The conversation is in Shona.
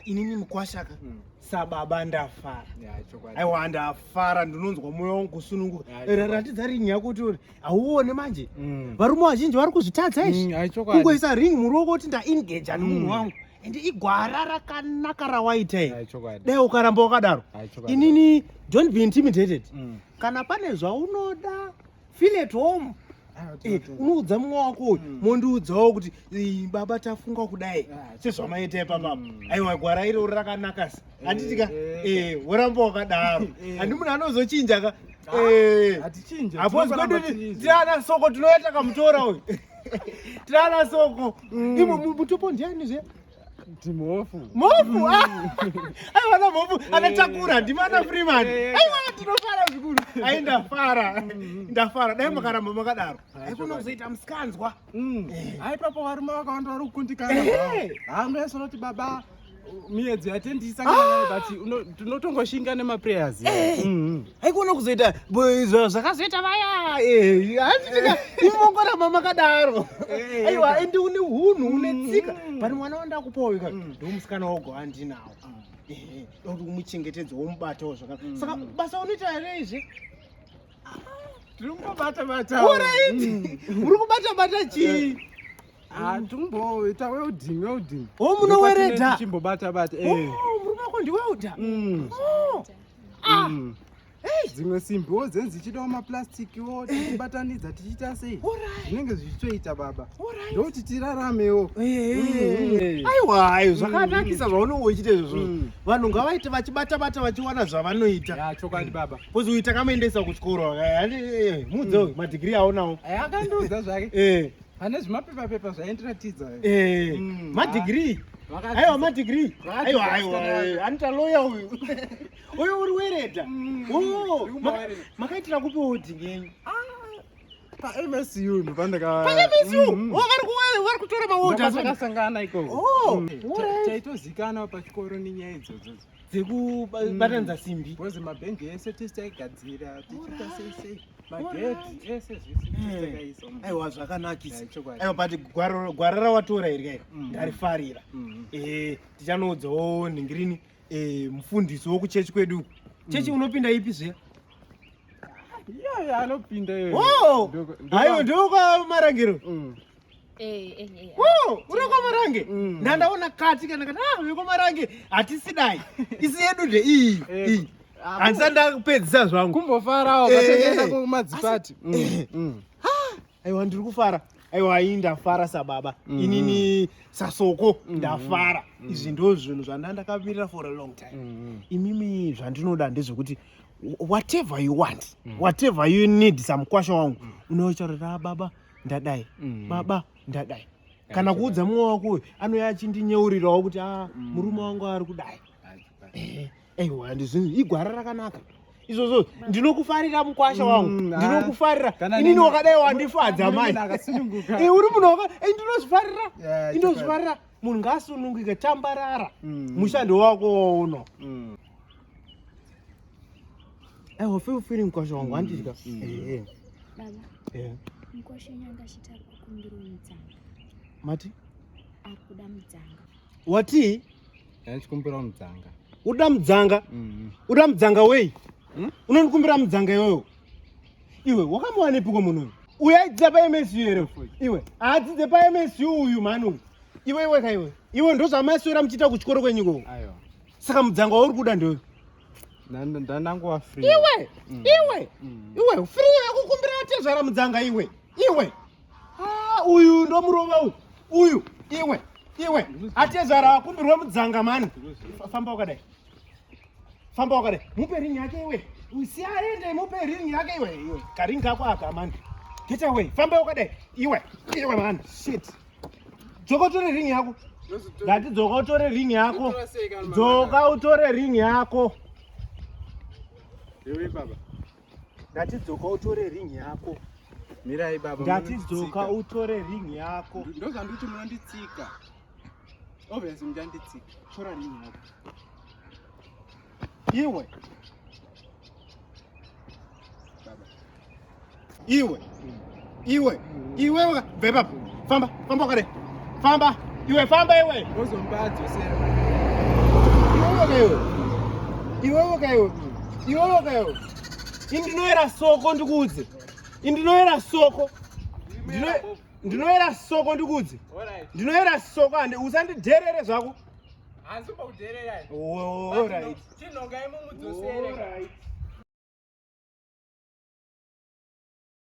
inini mukwashaka mm. sababa ndafara aiwa ndafara ndinonzwa mwoyo wangu kusununguka ratidza ringi yako kuti uri hauone manje mm. varume vazhinji vari kuzvitadza izvi mm, kungoisa ringi muruoko kuti ndaengeja nemunhu mm. wangu ende igwara rakanaka rawaita iri dai ukaramba wakadaro inini don't be intimidated kana pane zvaunoda feel at home ah, eh, unoudza mumwe wako uyu hmm. mondiudzawo kuti eh, baba tafunga kudai ah, sezvamaita ipapapa hmm. aiwa gwara iro uri rakanaka se eh, handitika woramba wakadaro handi munhu anozochinja ka hapozi kwedu tiana soko tinoyata kamutora uyu tiana soko hmm. imwe mutopo ndiani zve Timofu. Mofu. Ai wana mofu anachakura eh. ndimana eh. Freeman. Eh. Ai wana tinofara zvikuru. Ai ndafara. Mm-hmm. Ndafara. Dai mm. makaramba makadaro. Ai kuna kuzoita mskanzwa. Mm. Ai papa warume wakawanda vari kukundikana. Hangu yasoroti baba miedzo yatendisa kana ah! but tinotongoshinga nemaprayers. Mm-hmm. haikuona kuzoita zvakazoita vaya handiimongo rama makadaro aiwa ende une hunhu une mm, tsika mm, mm. but mwana wandakupawo ika ndo musikana wogo handinawo kuti umuchengetedza womubatawo zvakanaka saka basa unoita here izvi tiri kungobata bata uri kubata bata chii Ah, tumboita welding welding. Oh, munoweredha. Chimbobata bata. Eh. Oh, murume wako ndi welder. Mm. Oh. Ah. Mm. Hey. Dzimwe simbiwo dzenzi dzichidawo maplasticiwo tichibatanidza tichiita sei zvinenge zvichitoita baba ndokuti tiraramewo mm. aiwa ayo mm. zvakanakisa zvaunenge uchiita izvozvo mm. vanhu ngavaite vachibatabata vachiwana zvavanoita chokwadi baba kozi uita kamaendesa kuchikoro eh, eh, eh, muudze madhigiri aonawo akandiudza zvake Pane zvimapepa pepa zvaindiratidza. Eh, mm, madegree. Aiwa madegree. Aiwa aiwa. Eh, Anita lawyer uyu. Uyu uri wereta. Mm, oh, makaitira kupi odhi ngenyu? Ah, pa MSU ndo pandaka pa MSU mm. oh vari kuwari vari kutora mawoda zvakasangana ikoko oh mm. taitozikana pachikoro nenyaya idzodzo dzekubatanidza mm. simbi bcoz mabhengi ese tisi taigadzira tichiita sei sei magedhi ese zvese mm. aiwa zvakanakisa aiwa but gwara rawatora iri kairo mm. ndarifarira mm-hmm. eh, tichanoudzawo nhingirini eh, mufundisi wokuchechi kwedu uku chechi unopinda ipi zve anopinda oh! aiwa ndoka marangiro Eh, eh, eh, oh, unokomarange mm. ndandaona kati kana kana ah, unokomarange hatisidai isi yedu nde iyi iyi ah, handisa ndakupedzisa zvangu kumbofarawo vatengesa kumadzipati mm, mm. Ah, aiwa ndiri kufara aiwa iyi ndafara sababa inini sasoko ndafara izvi ndo zvinhu zvanda ndakamirira for a long time imimi zvandinoda ndezvekuti whatever you want whatever you need samukwasha wangu unochorera baba ndadai mm. baba ndadai kana kuudza mumwe wako uyu anouya achindinyeurirawo kuti a ah, mm. murume wangu ari kudai eh, aiwa ndizvinhu igwara rakanaka izvozvo ndinokufarira mukwasha mm, wangu ah. ndinokufarira inini wakadai wandifadza mai eh, uri munhu waka eh, ndinozvifarira ndinozvifarira munhu ngaasunungike tambarara mushando wako wauno I will feel feeling kwa shongo mm, anti chika. Mm. Eh eh. Baba. Eh. Mkoshe nyanga chita kukumbira mtsanga. Mati? Akuda mtsanga. Wati? Yaani chikumbira mtsanga. Uda mtsanga? Mhm. Uda mtsanga wei? Hmm? Unonikumbira mtsanga yoyo. Iwe wakamwana ipi kwa munhu? Uya idza pa MSU ere? Iwe. Adzi dze pa MSU uyu manu. Iwe iwe kaiwe. Iwe ndozvamaswera mchita kuchikoro kwenyiko. Ayo. Saka mtsanga wauri kuda ndoyo. ndandangowa free iwe mm. iwe mm. iwe free akukumbira tezvara mudzanga iwe iwe ah, uyu ndo murova uyu uyu iwe iwe atezvara akumbirwa mudzanga mani famba wakadai famba wakadai mupe ring yake iwe usi aende mupe ring yake iwe iwe karing kako aka mani get away famba wakadai iwe iwe mani shit dzoka utore ring yako ndati dzoka utore ring yako dzoka utore ring yako ewe baba ndati dzoka utore ring yako mirai baba ndati dzoka utore ring yako ndozvanditi munonditsika obviously muchanditsika tora ring yako Iwe. Iwe. Iwe. Iwe waka beba. Famba, famba kare. Famba. Iwe famba iwe. Uzombadza sera. Iwe waka iwe. Iwe waka iwe. Iwe waka iwe. Indinoera soko ndikuudze. Indinoera soko. Ndinoera soko ndikuudze. Ndinoera soko ande usandidherere zvako. hanzi pakuderera chinhongai mumudzosere